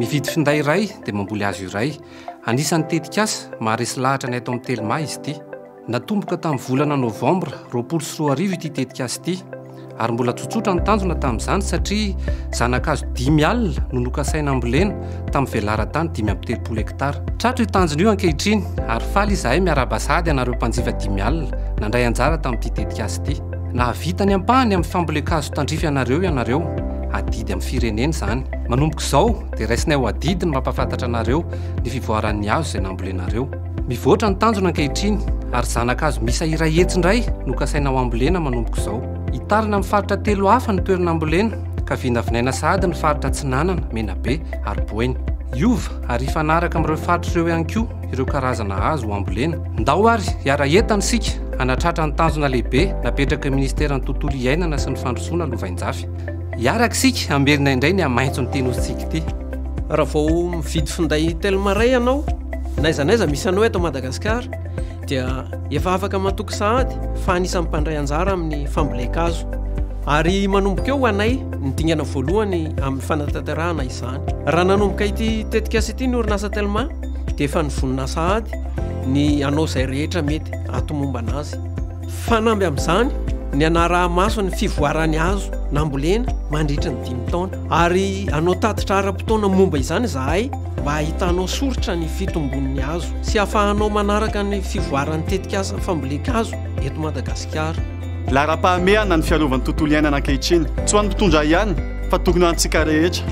Mividy finday iray dia mamboly hazo iray. Anisan'ny tetikasa maharesy lahatra ny ato amin'ny Telma izy ity. Natomboka tamin'ny volana novambra roapolo sy roa arivo ity tetikasa ity. ary mbola tsotsotra ny tanjona tamin'izany satria zana-kazo dimy alina no nokasaina hambolena tamin'ny velaran-tany dimy amby telopolo hektara. Tratra io tanjona io ankehitriny ary faly izahay miarahaba sahady anareo mpanjifa dimy alina nandray anjara tamin'ity tetikasa ity. Nahavita ny ampahany amin'ny fambolen-kazo tandrify anareo ianareo, adidy amin'ny firenena izany. Manomboka izao dia raisinay ho adidy ny mampahafantatra anareo ny fivoaran'ny hazo izay nambolenareo. Mivoatra ny tanjona ankehitriny ary zana-kazo miisa iray hetsy indray no kasaina ho ambolena manomboka izao. Hitarina amin'ny faritra telo hafa ny toerana ambolena ka vinavinaina sahady ny faritra Atsinanana, Menabe ary Boeny. Hiova ary hifanaraka amin'ireo faritra ireo ihany koa ireo karazana hazo ho ambolena. Ndao ary hiara-hientana isika hanatratra ny tanjona lehibe napetraky ny Ministeran'ny Tontolo iainana sy ny Fandrosoana lovainjafy. Hiaraka isika hamerina indray ny hamaintson'ity Nosintsika ity. Raha vao mividy finday Telma iray ianao, n'aiza n'aiza misy anao eto Madagasikara, dia efa afaka matoky sahady fa anisan'ny mpandray anjara amin'ny fambolen-kazo. Ary manomboka eo ho anay ny dingana voalohany amin'ny fanatanterahana izany. Raha nanomboka ity tetikasa ity ny orinasa Telma, dia efa nivonona sahady ny hanao izay rehetra mety hahatomombana azy. Fanamby amin'izany ny hanaraha-maso ny fivoaran'ny hazo nambolena mandritra ny dimy taona, ary hanao tatitra ara-potoana momba izany izahay mba hahitanao soritra ny fitombon'ny hazo sy hahafahanao manaraka ny fivoaran'ny tetikasa fambolen-kazo eto Madagasikara. Laharam-pahamehana ny fiarovan'ny tontolo iainana ankehitriny, tsy ho an'ny mpitondra ihany fa tokony ho antsika rehetra.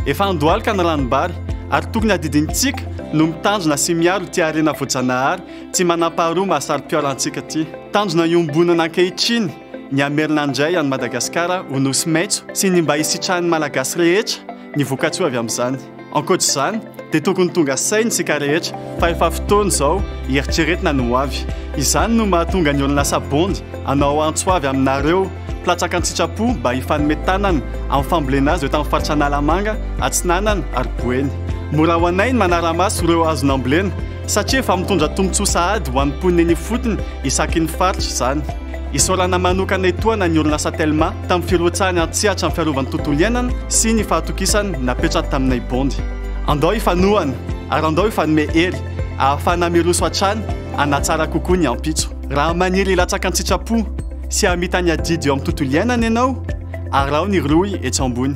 Efa handohalika ny ranom-bary ary tokony hadidinintsika no mitandrina sy miaro ity harena voajanahary Tsy manampaharoa mahasaro-piaro antsika ity. Tanjona iombonana ankehitriny ny hamerina indray an'i Madagasikara ho nosy maitso sy ny mba hisitrahan'ny Malagasy rehetra ny vokatsoa avy amin'izany. Ankoatra izany dia tokony tonga saina isika rehetra fa efa fotoana izao hieritreretina ny ho avy. Izany no mahatonga ny orinasa Bond hanao antso avy aminareo mpilatsaka an-tsitrapo mba hifanome tanana amin'ny fambolena azy eto amin'ny faritra Analamanga, Atsinanana ary Boeny. Mora ho anay ny manara-maso ireo hazo nambolena satria efa mitondra tombontsoa sahady ho an'ny mponina eny ifotony isaky ny faritra izany. Isaorana manokana etoana ny orinasa Telma tamin'ny firotsahany an-tsehatra ny fiarovan'ny tontolo iainana sy ny fahatokisany napetrany taminay Bondy. Andao hifanohana ary andao hifanome hery ahafahana miroso hatrany hanatsara kokoa ny ampitso. Raha maniry hilatsaka an-tsitrapo sy hamita ny adidy eo amin'ny tontolo iainana ianao, araho ny rohy etsy ambony.